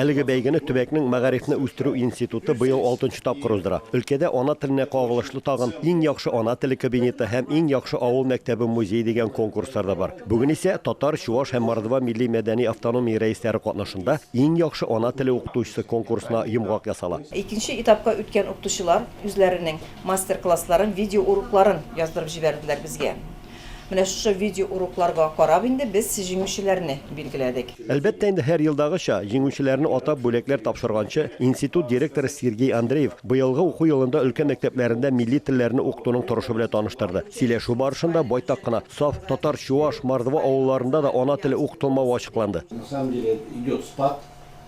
Әлеге бәйгене төбәкнең Мәгарифне үстерү институты быел алтынчы тапкыр уздыра. Өлкәдә ана теленә кагылышлы тагын Иң яхшы ана теле кабинеты һәм Иң яхшы авыл мәктәбе-музей дигән конкурслар да бар. Бүген исә Татар, Чуаш һәм Мордва милли-мәдәни автономия рәисләре катнашында Иң яхшы ана теле укытучысы конкурсына йомгак ясала. Икенче этапка үткән укытучылар үзләренең мастер-классларын, видеоурокларын яздырып җибәрделәр безгә. Менә шушы видеоурокларга карап инде без җиңүчеләрне билгеләдек. Әлбәттә инде, һәр елдагыча, җиңүчеләрне атап бүләкләр тапшырганчы, институт директоры Сергей Андреев быелгы уку елында өлкә мәктәпләрендә милли телләрне укытуның торышы белән таныштырды. Сөйләшү барышында байтак кына саф татар, чуаш, мордва авылларында да ана теле укытылмавы ачыкланды.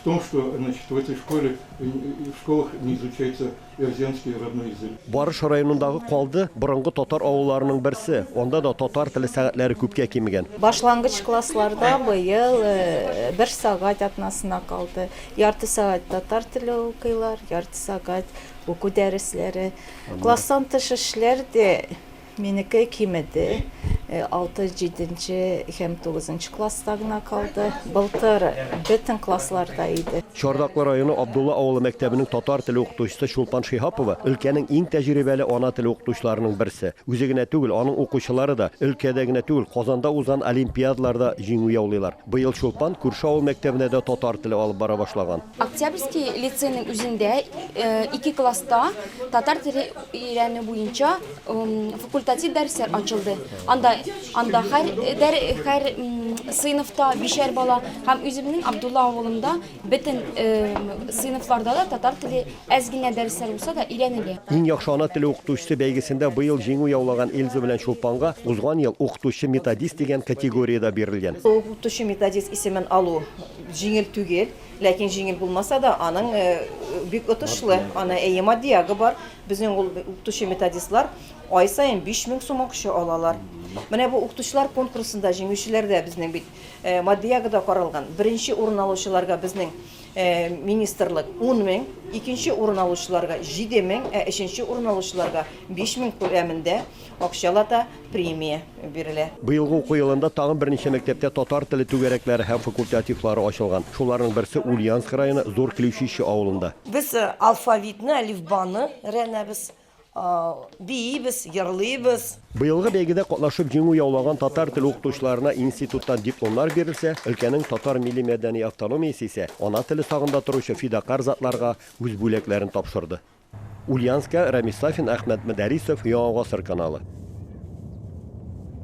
в том, что, значит, в этой школе, в школах не изучается эрзянский родной язык. Барыш районындагы Калды, борынгы татар авылларының берсе, анда да татар теле сәгатьләре күпкә кимегән. Башлангыч классларда быел бер сәгать атнасына калды. Ярты сәгать татар теле укыйлар, ярты сәгать уку дәресләре. Класстан тыш эшләр дә Минеке кимеде, алты, җиденче һәм тугызынчы класста гына калды. Былтыр бөтен классларда иде. Чардаклы районы Абдулла авылы мәктәбенең татар теле укытучысы Чулпан Шиһапова, өлкәнең иң тәҗрибәле ана теле укытучыларының берсе. Үзе генә түгел, аның укучылары да, өлкәдә генә түгел, Казанда узган олимпиадаларда җиңү яулыйлар. Быел Чулпан күрше авыл мәктәбенә дә татар теле алып бара башлаган. Октябрьский лицейның үзендә ике класста татар теле өйрәнү буенча Факультатив дәресләр ачылды. Анда анда һәр дәр һәр сыйныфта бишәр бала һәм үземнең Абдулла авылында бөтен сыйныфларда да татар теле әз генә дәресләр булса да өйрәнелә. Иң яхшы ана теле укытучысы бәйгесендә быел җиңү яулаган Эльза белән Чулпанга узган ел Укытучы-методист дигән категориядә бирелгән. Укытучы-методист исемен алу җиңел түгел, ләкин җиңел булмаса да, аның бик отышлы, аны әйе матдиягы бар, Безнең ул укытучы-методистлар ай саен 5000 сум акча алалар. Менә бу укытучылар конкурсында җиңүчеләр дә безнең бит э, матди ягы да каралган. Беренче урын алучыларга безнең э, министрлык 10 мең, икенче урын алучыларга 7 мең, ә өченче урын алучыларга 5 мең күләмендә Акчала да премия бирелә. Быелгы уку елында тагын берничә мәктәптә татар теле түгәрәкләре һәм факультативлары ачылган. Шуларның берсе Ульяновск районы Зур Клеучище авылында. Без алфавитны, әлифбаны өйрәнәбез, биибез, җырлыйбыз. Быелгы бәйгедә катнашып җиңү яулаган татар теле укытучыларына институттан дипломнар бирелсә, өлкәнең татар милли-мәдәни автономиясе исә ана теле сагында торучы фидакарь затларга үз бүләкләрен тапшырды. Ульянска, Рамис Сафин, Әхмәт Мөдәрисов, Яңа гасыр каналы.